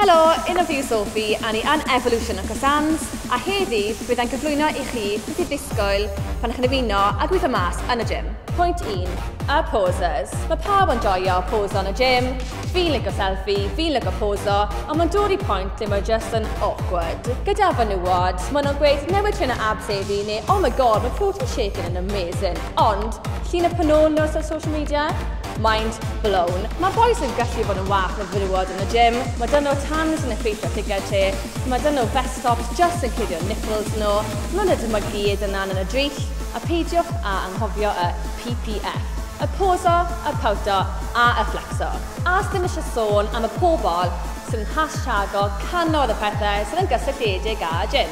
Helo, un of fi yw Sophie a ni yn Evolution Uncle Sam's a heddi bydd e'n cyflwyno i chi beth i ddisgwyl pan chi'n ymuno a gweithio mas yn y gym. Pwynt 1, Y poses. Mae pawb yn joio poso yn y gym, fi'n lico selfie, fi'n lico poso, ond mae'n dod i pwynt lle mae just yn awkward. Gyda fenywod, maen nhw'n gweud newid trên o abs heddi neu oh my god mae protein shake yn yn amazing, ond llun y pen ôl nhw ar social media? Mind blown. Mae'r bois yn gallu bod yn wath o frywod yn y gym. Mae dyn nhw tans yn effeithio lliged ti. Mae dyn nhw vest tops jyst yn cuddio nipples nhw. Maen nhw dyma gyd yn lan yn y drill. A peidiwch â anghofio y PPF. Y poso, y powto a y fflecso. A sdim eisiau sôn am y pobl sydd yn hashtaggo cannoedd o pethau sydd yn gysylltiedig â gym.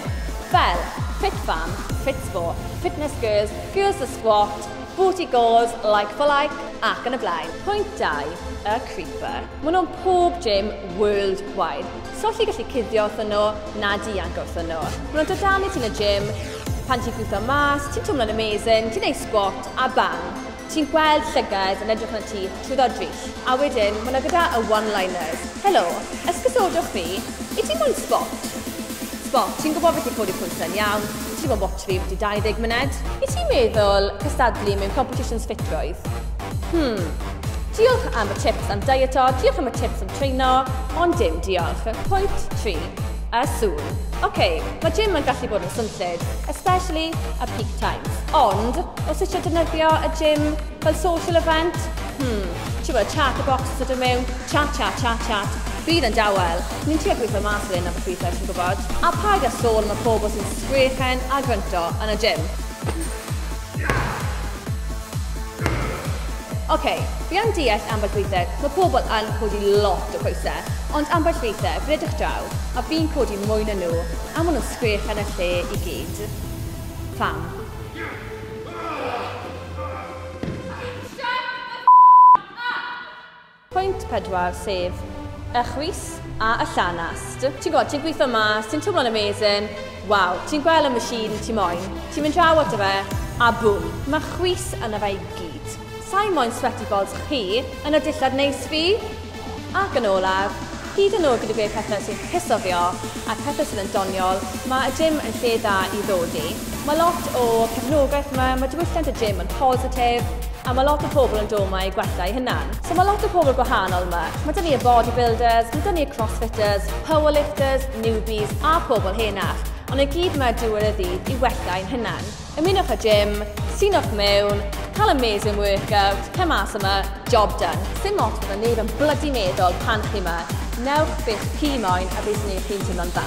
Fel, fit fam, fit spo, fitness girls, girls that squat, Booty Gores, Like for Like ac yn y blaen. Pwynt dau, y Creeper. Maen nhw'n pob gym world wide. So allu gallu cuddio wrthyn nhw na dianc wrthyn nhw. Maen nhw'n dod dan i ti'n y gym, pan ti'n gwtho mas, ti'n twmlo'n amazing, ti'n ei squat a bang. Ti'n gweld llygad yn edrych na ti, Twd oddill. A wedyn, ma' 'na gyda y one-liners. Helo, esgusodwch fi, i ti moyn sbot? Sbot, ti'n gwybod beth yw Codi Pwysau yn iawn, i ti moyn watch fi ambiti 20 myned? I ti meddwl cystadlu mewn competitions ffitrwydd? Hmm, diolch am y tips am dieto, diolch am y tips am treino, ond dim diolch. Pwynt 3. A sŵn. Ok, mae gym yn gallu bod yn swnllyd, especially at peak times, ond os eisiau defnyddio y gym Fel social event? Hmm, ti'n gwybod, chat y bocs sydd yn mewn, chat, chat, chat, chat. Bydd yn dawel. Ni'n trio gweithio mas fel hyn am y ffrwythau, ti'n gwybod. A paid â sôn am y pobl sy'n sgrechen a grynto yn y gym. Ok, fi yn deall ambell weithiau, mae pobl yn codi lot o pwysau, ond ambell weithiau, fi'n edrych draw, a fi'n codi mwy na nhw, a maen nhw'n sgrechen y lle i gyd. Pam? Pwynt pedwar, sef y chwys a y llanast. Ti'n gwybod, ti'n gweithio yma, ti'n twmlo'n amazing, waw, ti'n gweld y machine ti moyn, ti'n mynd draw ato fe, a bwm, mae chwys yna fe i gyd. Sa'i moyn sweaty balls chi yn y dillad neis fi! Ac yn olaf, hyd yn oed gyda gwneud pethau sy'n cysoddio a pethau sydd yn doniol, mae y gym yn lle da i ddod i. Mae lot o cefnogaeth yma, mae diwylliant y gym yn positif, a mae lot o pobl yn dod yma i gwella eu hunan. So mae lot o pobl gwahanol yma. Mae 'da ni y bodybuilders, mae 'da ni y crossfitters, powerlifters, newbies a pobl henach, ond i gyd yma diwedd y ddydd i wella ein hunan. Ymunwch â Jim, sinwch mewn, cael amazing workout, cer mas yma, job done. Sdim ots beth mae neb yn blydi meddwl pan chi yma, newch beth chi moyn a beth sy'n neud chi'n teimlo'n dda.